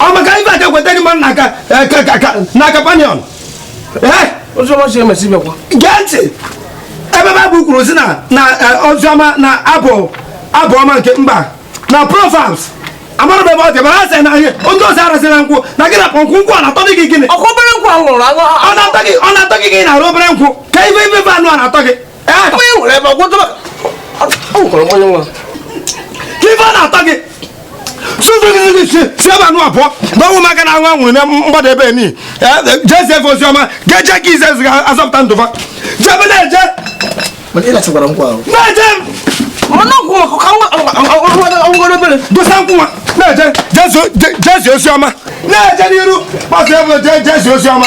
ọ maka ife aka kweta n'ime nna aka n'aka panion gee ntị ebe baịbụl kwuru sị na na oziọma na abụ abụ ọma nke mba na proverbs amara m ebe ọ dị mara asị na ihe ndị ọzọ arasị na nkwụ na gị na pọnkwụ nkwụ ọ na-atọ gị gịnị ọ na-atọ gị gị na-ara obere nkwụ ka ife ife anụ a na-atọ gị ife na-atọ gị si ebe anụ abụọ na ọnwụ maka na anwụ anwụrụ na mgbada ebe ni jezi efe ozi ọma ga-eje ka ize eziga azọpụta ndụ fa jebe na-eje na-eje dosa nkwụ nwa na-eje je zie ozi ọma na-eje n'iru gbasa ebe je zie ozi ọma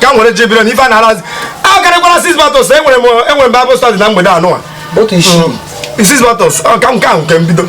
ka nwere ji biri na ife a na-arazi a karịkwara six bottles enwere m enwere m bible study na mgbede anụwa otu isii six bottles ọ ka nke ahụ nke mbido